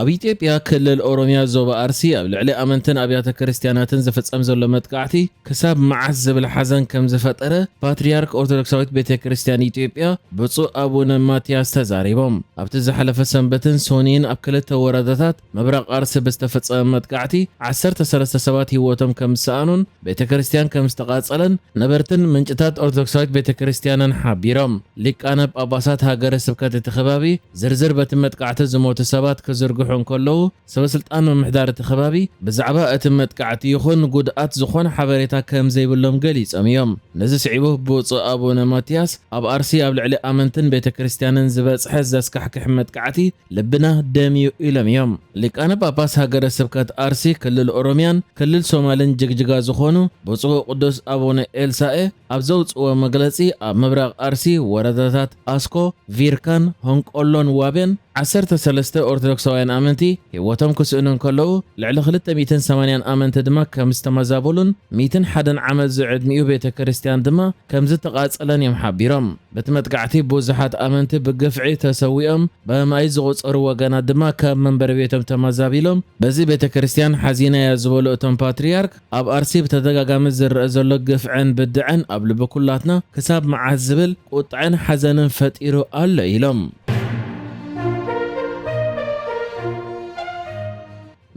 ኣብ ኢትዮጵያ ክልል ኦሮሚያ ዞባ ኣርሲ ኣብ ልዕሊ ኣመንትን ኣብያተ ክርስትያናትን ዝፍጸም ዘሎ መጥቃዕቲ ክሳብ መዓስ ዝብል ሓዘን ከም ዝፈጠረ ፓትርያርክ ኦርቶዶክሳዊት ቤተ ክርስትያን ኢትዮጵያ ብፁዕ ኣቡነ ማትያስ ተዛሪቦም። ኣብቲ ዝሓለፈ ሰንበትን ሶኑይን ኣብ ክልተ ወረዳታት ምብራቕ ኣርሲ ብዝተፈጸመ መጥቃዕቲ ዓሰርተ ሰለስተ ሰባት ህይወቶም ከም ዝሰኣኑን ቤተ ክርስቲያን ከም ዝተቓጸለን ነበርትን ምንጭታት ኦርቶዶክሳዊት ቤተ ክርስቲያንን ሓቢሮም። ሊቃነ ጳጳሳት ሃገረ ስብከት እቲ ከባቢ ዝርዝር በቲ መጥቃዕቲ ዝሞቱ ሰባት ክዝርግሑ እንከለዉ፣ ሰበ ስልጣን ምምሕዳር እቲ ከባቢ ብዛዕባ እቲ መጥቃዕቲ ይኹን ጉድኣት ዝኾነ ሓበሬታ ከም ዘይብሎም ገሊጾም እዮም። ነዚ ስዒቡ ብፁዕ ኣቡነ ማትያስ ኣብ ኣርሲ ኣብ ልዕሊ ኣመንትን ቤተ ክርስቲያንን ዝበጽሐ ዘስካሕክሕ መጥቃዕቲ ልብና ደም እዩ ኢሎም እዮም። ሊቃነ ጳጳስ ሃገረ ስብከት ኣርሲ ክልል ኦሮምያን ክልል ሶማልን ጅግጅጋ ዝኾኑ ብፁዕ ወቅዱስ ኣቡነ ኤልሳኤ ኣብ ዘውጽእዎ መግለጺ ኣብ ምብራቕ ኣርሲ ወረዳታት ኣስኮ፣ ቪርካን፣ ሆንቆሎን ዋቤን ዓሰርተ ሰለስተ ኦርቶዶክሳውያን ኣመንቲ ህይወቶም ክስእኑ እንከለዉ ልዕሊ ክልተ ሚእትን ሰማንያን ኣመንቲ ድማ ከም ዝተመዛበሉን ሚእትን ሓደን ዓመት ዝዕድሚኡ ቤተ ክርስቲያን ድማ ከም ዝተቓጸለን እዮም ሓቢሮም። በቲ መጥቃዕቲ ብዙሓት ኣመንቲ ብግፍዒ ተሰዊኦም፣ ብኣማኢት ዝቑጸሩ ወገናት ድማ ካብ መንበሪ ቤቶም ተመዛቢሎም። በዚ ቤተ ክርስቲያን ሓዚናያ ዝበሉ እቶም ፓትርያርክ፣ ኣብ ኣርሲ ብተደጋጋሚ ዝረኣ ዘሎ ግፍዕን ብድዐን ኣብ ልቢ ኩላትና ክሳብ መዓስ ዝብል ቁጥዐን ሓዘንን ፈጢሩ ኣሎ ኢሎም።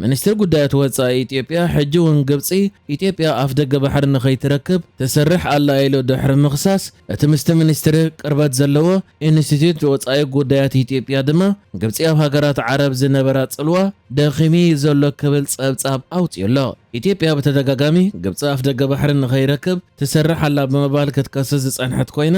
ሚኒስትሪ ጉዳያት ወጻኢ ኢትዮጵያ ሕጂ እውን ግብጺ፣ ኢትዮጵያ ኣፍደገ ባሕሪ ንኸይትረክብ ትሰርሕ ኣላ ኢሉ ድሕሪ ምኽሳስ፣ እቲ ምስቲ ሚኒስትሪ ቅርበት ዘለዎ ኢንስቲትዩት ወጻኢ ጉዳያት ኢትዮጵያ ድማ ግብጺ ኣብ ሃገራት ዓረብ ዝነበራ ጽልዋ ደኺሙ'ዩ ዘሎ ክብል ጸብጻብ ኣውጺኡ'ሎ። ኢትዮጵያ ብተደጋጋሚ ግብጺ ኣፍደገ ባሕሪ ንኸይረክብ ትሰርሕ ኣላ ብምባል ክትከስስ ዝጸንሐት ኮይና፣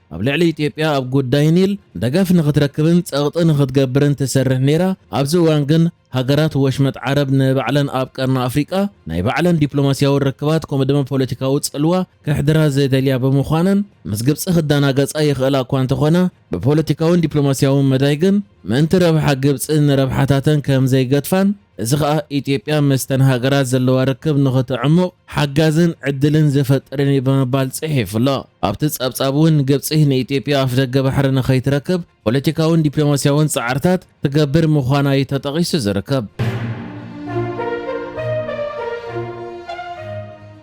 ኣብ ልዕሊ ኢትዮጵያ ኣብ ጉዳይ ኒል ደገፍ ንኽትረክብን ጸቕጢ ንኽትገብርን ትሰርሕ ነይራ፣ ኣብዚ እዋን ግን ሃገራት ወሽመጥ ዓረብ ንባዕለን ኣብ ቀርኒ ኣፍሪቃ ናይ ባዕለን ዲፕሎማስያዊ ርክባት ከምኡ ድማ ፖለቲካዊ ጽልዋ ከሕድራ ዘይደልያ ብምዃነን ምስ ግብጺ ክደናገጻ ይኽእላ እኳ እንተኾና ብፖለቲካውን ዲፕሎማስያውን መዳይ ግን ምእንቲ ረብሓ ግብጺ ንረብሓታተን ከም ዘይገድፋን እዚ ከኣ ኢትዮጵያ ምስተን ሃገራት ዘለዋ ርክብ ንኽተዕሙቕ ሓጋዝን ዕድልን ዝፈጥርን እዩ ብምባል ጽሒፉ'ሎ። ኣብቲ ጸብጻብ'ውን ግብጺ ንኢትዮጵያ ኣፍደገ ባሕሪ ንኸይትረክብ ፖለቲካውን ዲፕሎማስያውን ጻዕርታት ትገብር ምዃና እዩ ተጠቒሱ ዝርከብ።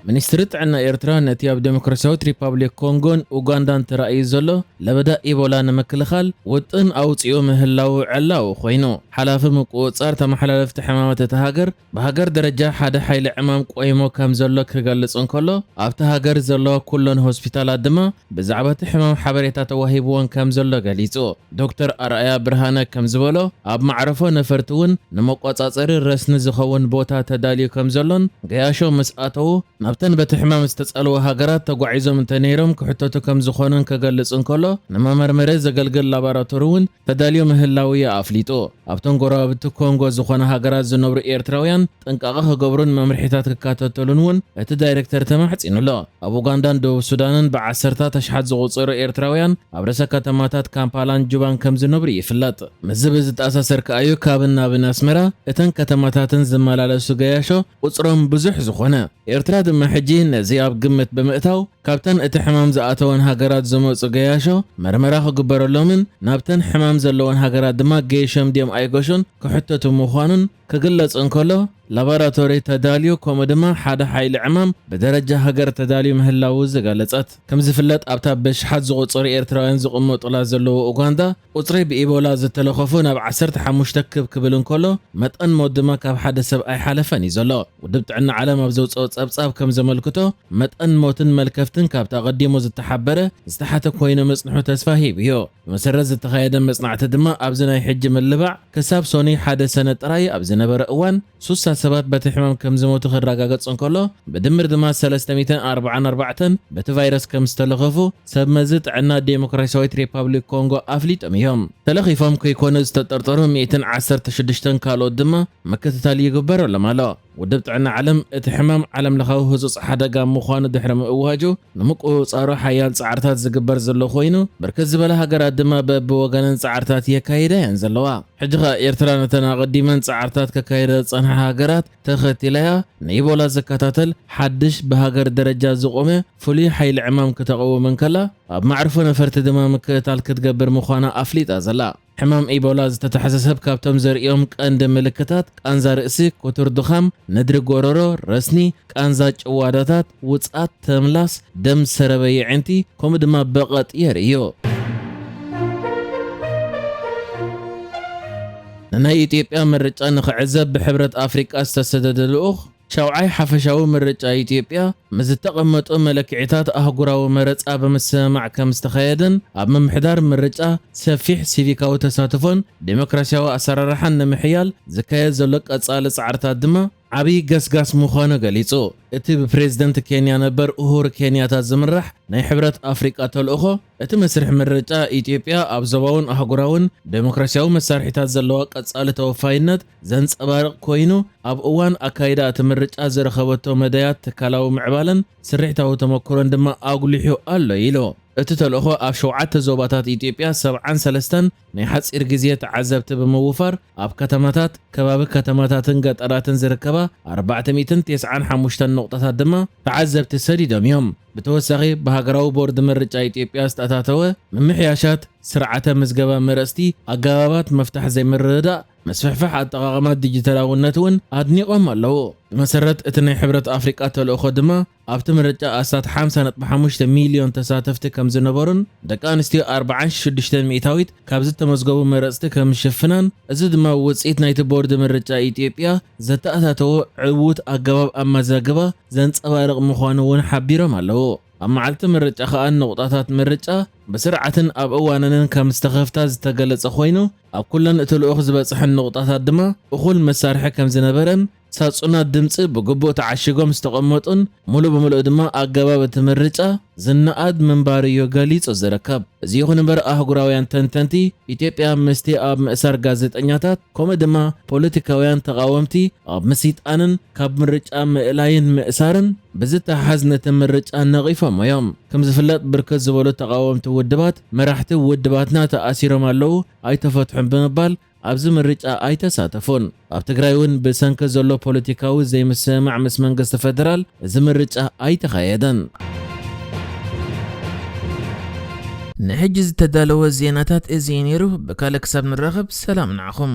ሚኒስትሪ ጥዕና ኤርትራ ነቲ ኣብ ደሞክራስያዊት ሪፓብሊክ ኮንጎን ኡጋንዳን ተራእዩ ዘሎ ለበዳ ኢቦላ ንምክልኻል ውጥን ኣውጺኡ ምህላዉ ዕላዊ ኮይኑ። ሓላፊ ምቁጽጻር ተመሓላለፍቲ ሕማማት እታ ሃገር ብሃገር ደረጃ ሓደ ሓይሊ ዕማም ቆይሙ ከምዘሎ ክገልጽ እንከሎ ኣብታ ሃገር ዘለዋ ኩለን ሆስፒታላት ድማ ብዛዕባ እቲ ሕማም ሓበሬታ ተዋሂብወን ከም ዘሎ ገሊጹ። ዶክተር ኣርኣያ ብርሃነ ከም ዝበሎ፣ ኣብ መዕረፎ ነፈርቲ እውን ንመቆጻጸሪ ረስኒ ዝኸውን ቦታ ተዳልዩ ከም ዘሎን ገያሾ ምስ ኣተዉ ናብተን በቲ ሕማም ዝተጸልዋ ሃገራት ተጓዒዞም እንተ ነይሮም ክሕተቱ ከም ዝኾኑን ክገልጽ እንከሎ ንመመርመሪ ዘገልግል ላባራቶሪ እውን ተዳልዮ ምህላዉ'ዩ ኣፍሊጡ። ኣብተን ጎረባብቲ ኮንጎ ዝኾና ሃገራት ዝነብሩ ኤርትራውያን ጥንቃቐ ክገብሩን መምርሒታት ክካተተሉን እውን እቲ ዳይረክተር ተማሕጺኑ ኣሎ። ኣብ ኡጋንዳን ደቡብ ሱዳንን ብዓሰርታት ኣሽሓት ዝቑጸሩ ኤርትራውያን ኣብ ርእሰ ከተማታት ካምፓላን ጁባን ከም ዝነብሩ ይፍለጥ። ምስዚ ብዝተኣሳሰር ከኣ'ዩ ካብን ናብን ኣስመራ፣ እተን ከተማታትን ዝመላለሱ ገያሾ፣ ቁጽሮም ብዙሕ ዝኾነ፣ ኤርትራ ድማ ሕጂ ነዚ ኣብ ግምት ብምእታው ካብተን እቲ ሕማም ዝኣተወን ሃገራት ዝመጹ ገያሾ መርመራ ክግበረሎምን ናብተን ሕማም ዘለወን ሃገራት ድማ ገይሾም ድዮም ኣይገሹን ክሕተቱ ምዃኑን ክግለጽ እንከሎ ላባራቶሪ ተዳልዩ ከምኡ ድማ ሓደ ሓይሊ ዕማም ብደረጃ ሃገር ተዳልዩ ምህላዉ ዝገለጸት። ከምዝፍለጥ ኣብታ በሽሓት ዝቑጸሩ ኤርትራውያን ዝቕመጡላ ዘለዎ ኡጋንዳ፣ ቁጽሪ ብኢቦላ ዝተለኸፉ ናብ ዓሰርተ ሓሙሽተ ክብ ክብል እንከሎ፣ መጠን ሞት ድማ ካብ ሓደ ሰብ ኣይሓለፈን እዩ ዘሎ። ውድብ ጥዕና ዓለም ኣብ ዘውጸኦ ጸብጻብ ከም ዘመልክቶ፣ መጠን ሞትን መልከፍትን ካብቲ ኣቐዲሙ ዝተሓበረ ዝተሓተ ኮይኑ ምጽንሑ ተስፋ ሂብ እዩ። ብመሰረት ዝተኻየደ መጽናዕቲ ድማ ኣብዚ ናይ ሕጂ ምልባዕ ክሳብ ሶኑይ ሓደ ሰነ ጥራይ ኣብ ዝነበረ እዋን፣ ስሳ ሰባት በቲ ሕማም ከም ዝሞቱ ክራጋገጽ እንከሎ፣ ብድምር ድማ ሰለስተ ሚእትን ኣርብዓን ኣርባዕተን በቲ ቫይረስ ከም ዝተለኸፉ ሰብ መዚ ጥዕና ዴሞክራሲያዊት ሪፓብሊክ ኮንጎ ኣፍሊጦም እዮም። ተለኺፎም ከይኮኑ ዝተጠርጠሩ ሚእትን ዓሰርተ ሽዱሽተን ካልኦት ድማ ምክትታል ይግበረሎም ኣሎ። ውድብ ጥዕና ዓለም እቲ ሕማም ዓለምለኻዊ ህጹጽ ሓደጋ ምዃኑ ድሕሪ ምእዋጁ፣ ንምቁጽጻሩ ሓያል ጻዕርታት ዝግበር ዘሎ ኮይኑ፣ ብርክት ዝበላ ሃገራት ድማ በብወገነን ጻዕርታት የካይዳ እየን ዘለዋ። ሕጂ ከኣ ኤርትራ ነተን ኣቐዲመን ጻዕርታት ከካይዳ ዝጸንሓ ሃገራት ተኸቲላ'ያ ንኢቦላ ዝከታተል ሓድሽ ብሃገር ደረጃ ዝቖመ ፍሉይ ሓይሊ ዕማም ክተቐውም እንከላ፣ ኣብ መዕርፎ ነፈርቲ ድማ ምክእታል ክትገብር ምዃና ኣፍሊጣ ዘላ። ሕማም ኢቦላ ዝተታሕዘ ሰብ ካብቶም ዘርእዮም ቀንዲ ምልክታት ቃንዛ ርእሲ፣ ክቱር ድኻም፣ ነድሪ ጎረሮ፣ ረስኒ፣ ቃንዛ ጭዋዳታት፣ ውጽኣት፣ ተምላስ፣ ደም ሰረበ የዒንቲ፣ ከምኡ ድማ በቐጥ የርእዮ። ንናይ ኢትዮጵያ ምርጫ ንክዕዘብ ብሕብረት ኣፍሪቃ ዝተሰደደ ልኡኽ፣ ሻውዓይ ሓፈሻዊ ምርጫ ኢትዮጵያ ምስ ዝተቐመጡ መለክዒታት ኣህጉራዊ መረጻ ብምስምማዕ ከም ዝተኸየደን ኣብ ምምሕዳር ምርጫ ሰፊሕ ሲቪካዊ ተሳትፎን ዴሞክራሲያዊ ኣሰራርሓን ንምሕያል ዝካየድ ዘሎ ቀጻሊ ጻዕርታት ድማ ዓብዪ ገስጋስ ምዃኑ ገሊጹ። እቲ ብፕሬዝደንት ኬንያ ነበር ኡሁር ኬንያታ ዝምራሕ ናይ ሕብረት ኣፍሪቃ ተልእኾ፣ እቲ መስርሕ ምርጫ ኢትዮጵያ ኣብ ዞባውን ኣህጉራውን ደሞክራሲያዊ መሳርሒታት ዘለዋ ቀጻሊ ተወፋይነት ዘንጸባርቕ ኮይኑ፣ ኣብ እዋን ኣካይዳ እቲ ምርጫ ዝረኸበቶ መዳያት ትካላዊ ምዕባለን ስርሒታዊ ተመኩሮን ድማ ኣጉሊሑ ኣሎ ኢሉ። እቲ ተልእኾ ኣብ ሸውዓተ ዞባታት ኢትዮጵያ ሰብዓን ሰለስተን ናይ ሓጺር ግዜ ተዓዘብቲ ብምውፋር ኣብ ከተማታት፣ ከባቢ ከተማታትን ገጠራትን ዝርከባ ኣርባዕተ ሚእትን ቴስዓን ሓሙሽተን ነቑጣታት ድማ ተዓዘብቲ ሰዲዶም እዮም። ብተወሳኺ ብሃገራዊ ቦርድ ምርጫ ኢትዮጵያ ዝተኣታተወ ምምሕያሻት ስርዓተ ምዝገባ መረጽቲ፣ ኣገባባት ምፍታሕ ዘይምርድዳእ፣ ምስፍሕፋሕ ኣጠቓቕማ ዲጂታላውነት እውን ኣድኒቖም ኣለዉ። ብመሰረት እቲ ናይ ሕብረት ኣፍሪቃ ተልእኾ ድማ፣ ኣብቲ ምርጫ ኣስታት ሓምሳ ነጥቢ ሓሙሽተ ሚልዮን ተሳተፍቲ ከም ዝነበሩን ደቂ ኣንስትዮ ኣርብዓን ሽዱሽተን ሚእታዊት ካብ ዝተመዝገቡ መረፅቲ ከም ዝሽፍናን እዚ ድማ ውፅኢት ናይቲ ቦርድ ምርጫ ኢትዮጵያ ዘተኣታተዎ ዕዉት ኣገባብ ኣመዛግባ ዘንፀባርቕ ምዃኑ እውን ሓቢሮም ኣለዉ። ኣብ መዓልቲ ምርጫ ከኣ ንቑጣታት ምርጫ ብስርዓትን ኣብ እዋነንን ከም ዝተኸፍታ ዝተገለፀ ኮይኑ ኣብ ኩለን እቲ ልኡኽ ዝበፅሐን ንቑጣታት ድማ እኹል መሳርሒ ከም ዝነበረን ሳጹናት ድምጺ ብግቡእ ተዓሺጎም ዝተቐመጡን ምሉእ ብምሉእ ድማ ኣገባብ እቲ ምርጫ ዝነኣድ ምንባሩዮ ገሊጹ ዝርከብ። እዚ ይኹን እምበር ኣህጉራውያን ተንተንቲ፣ ኢትዮጵያ ምስቲ ኣብ ምእሳር ጋዜጠኛታት ከምኡ ድማ ፖለቲካውያን ተቓወምቲ ኣብ ምስይጣንን ካብ ምርጫ ምእላይን ምእሳርን ብዝተሓሓዝ ነቲ ምርጫ ነቒፎሞዮም። ከም ዝፍለጥ ብርክት ዝበሉ ተቓወምቲ ውድባት መራሕቲ ውድባትና ተኣሲሮም ኣለዉ፣ ኣይተፈትሑን ብምባል ኣብዚ ምርጫ ኣይተሳተፉን። ኣብ ትግራይ እውን ብሰንኪ ዘሎ ፖለቲካዊ ዘይምስምማዕ ምስ መንግስቲ ፌደራል እዚ ምርጫ ኣይተኻየደን። ንሕጂ ዝተዳለወ ዜናታት እዚ እዩ ነይሩ። ብካልእ ክሳብ ንራኸብ ሰላም ንዓኹም።